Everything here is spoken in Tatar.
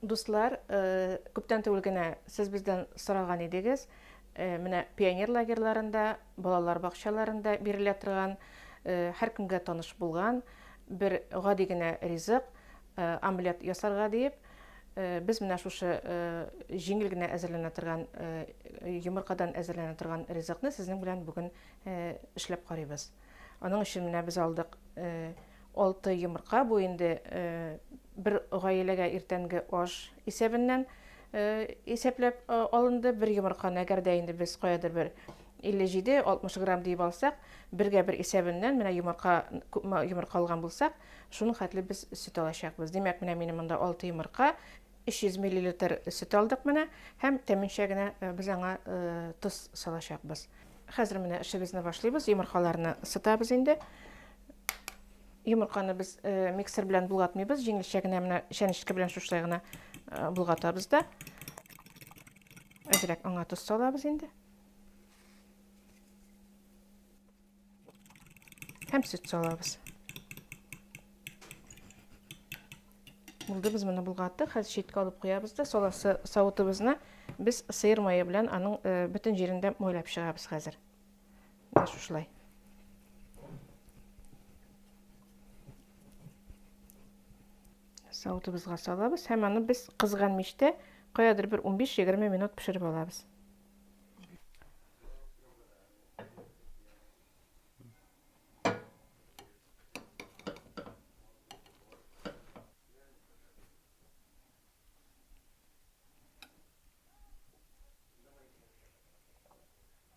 Дуслар, күптән түгел генә сез бездән сораган идегез, менә пионер лагерьларында, балалар бакчаларында бирелә торган, һәркемгә таныш булган бер гади генә ризык, омлет ясарга диеп, без менә шушы җиңел генә әзерләнә торган, йомыркадан әзерләнә торган ризыкны сезнең белән бүген эшләп карыйбыз. Аның өчен менә без алдык Алты йомырка бу инде бер гаиләгә иртәнге аш исәбеннән исәпләп алынды. Бер йомырканы әгәр дә инде без каядыр бер 57-60 грамм диеп алсак, бергә бер исәбеннән менә йомырка күпме йомырка алган булсак, шуның хәтле без сөт алачакбыз. Димәк, менә минем монда 6 йомырка, 300 миллилитр сөт алдык менә һәм тәминчә генә без аңа тоз салачакбыз. Хәзер менә эшебезне башлыйбыз. Йомыркаларны сытабыз инде. Йомырканы без э, миксер белән булгатмыйбыз, җиңелчә генә менә чәнечке белән шушылай гына э, булгатабыз да. Әзрәк аңа тоз салабыз инде. Һәм сөт салабыз. Булды без моны булгаттык. Хәзер читкә алып куябыз да, саласы савытыбызны без сыер мае белән аның э, бөтен җирендә майлап чыгабыз хәзер. Менә шушылай. Савытыбызга салабыз һәм аны без кызган мичтә каядыр бер 15-20 минут пешереп алабыз.